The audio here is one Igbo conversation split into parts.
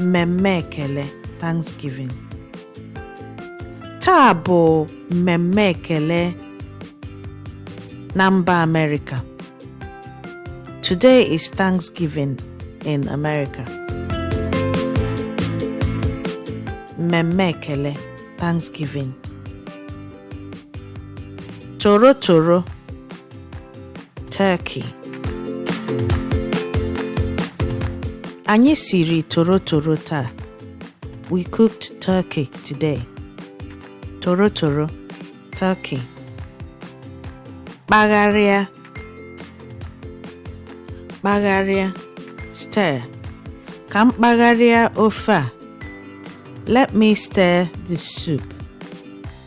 mmemme ekele Thanksgiving taa bụ mmemme ekele na mba Amerịka today is Thanksgiving in America mmemme ekele Thanksgiving toro toro Turkey. Anyị siri torotoro taa. We cooked turkey today. Torotoro, turkey. Kpagharịa. Kpagharịa, stir. Ka m kpagharịa ofe a. Let me stir the soup.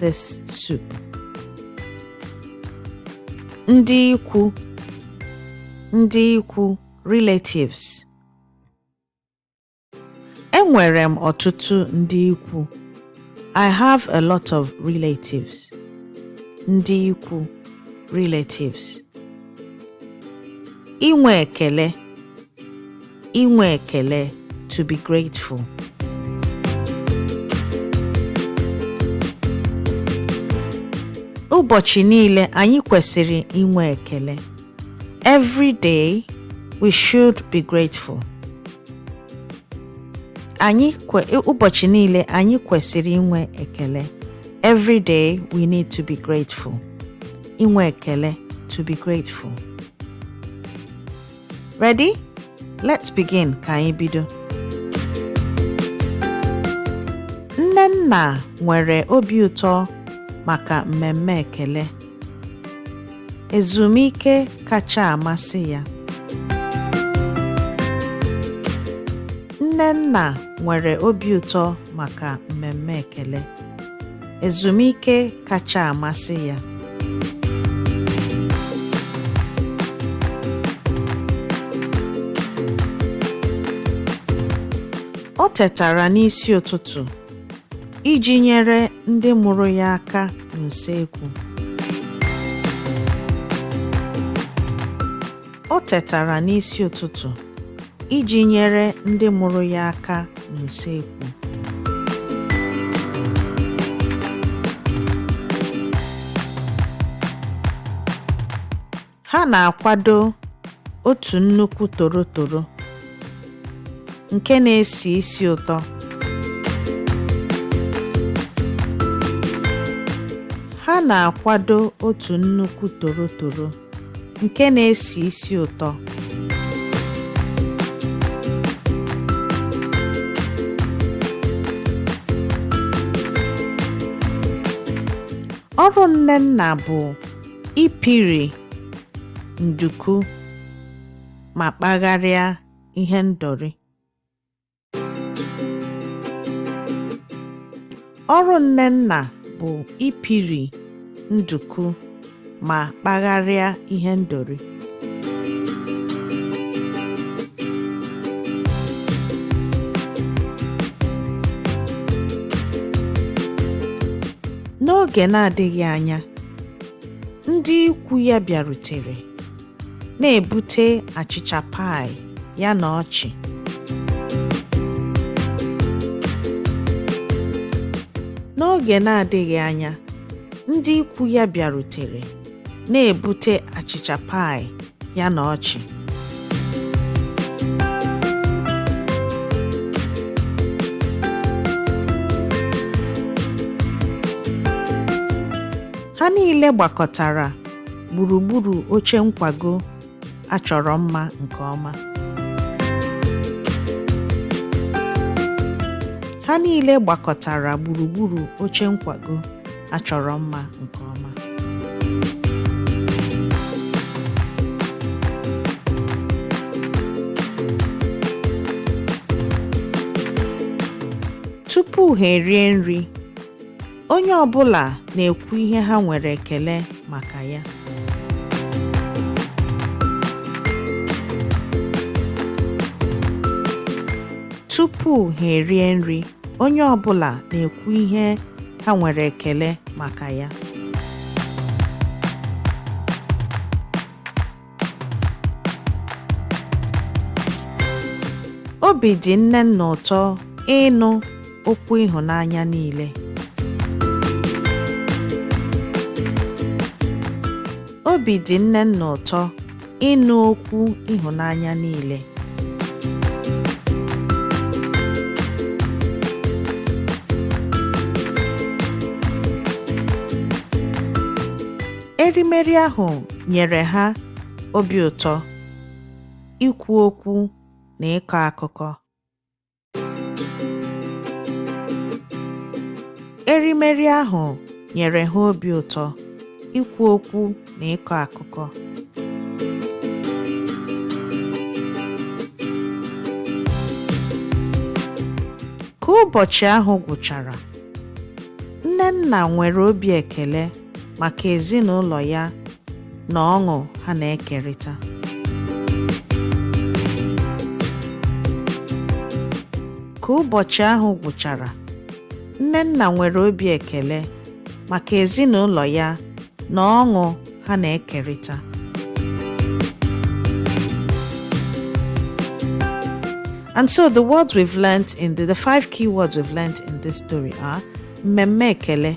this soup. Ndị ikwu Ndị ikwu relatives. Enwere m ọtụtụ ndị ikwu. I have a lot of relatives. Ndị ikwu, relatives. Inwe ekele. inwe ekele to be grateful ụbọchị niile anyị kwesịrị inwe ekele every day we should be grateful anyị ụbọchị niile anyị kwesịrị inwe ekele every day we need to be grateful inwe ekele to be grateful Ready? Let's begin ka anyị bido. Nnenna nwere obi ụtọ maka mmemme ekele. Ezumike kacha amasị ya. Nnenna nwere obi ụtọ maka mmemme ekele. Ezumike kacha amasị ya. O tetara n'isi ụtụtụ iji nyere ndị mụrụ ya aka n'usekwu. O tetara n'isi ụtụtụ iji nyere ndị mụrụ ya aka n'usekwu. Ha na-akwado otu nnukwu torotoro nke na-esi isi ụtọ. Ha na-akwado otu nnukwu torotoro. nke na-esi isi ụtọ ọrụ Nnenna bụ ipiri nduku ma kpagharịa ihe ndori Ọrụ Nnenna bụ ipiri nduku ma kpagharịa ihe ndori. N'oge na-adịghị anya, ndị ikwu ya bịarutere. na-ebute achịcha pie ya na ọchị. N'oge na-adịghị anya, ndị ikwu ya bịarutere, na-ebute achịcha pie ya na ọchị. Ha niile gbakọtara gburugburu oche nkwago a chọrọ mma nke ọma ha niile gbakọtara gburugburu oche nkwago a chọrọ mma nke ọma tupu ha erie nri Onye ọ bụla na-ekwu ihe ha nwere ekele maka ya. Tupu ha erie nri, onye ọ bụla na-ekwu ihe ha nwere ekele maka ya. Obi dị Nnenna ụtọ ịnụ okwu ịhụnanya niile. Obi dị Nnenna ụtọ ịnụ okwu ịhụnanya niile. Erimeri ahụ nyere ha obi ụtọ, ikwu okwu na ịkọ akụkọ. Erimeri ahụ nyere ha obi ụtọ, ikwu okwu na ịkọ akụkọ. Ka ụbọchị ahụ gwụchara, Nnenna nwere obi ekele maka ezinụlọ ya na ọṅụ ha na-ekerịta. Ka ụbọchị ahụ gwụchara, Nnenna nwere obi ekele maka ezinụlọ ya na ọṅụ ha na-ekerịta. And so the words we've learnt in the, the five key words we've learnt in this story are mmemme ekele,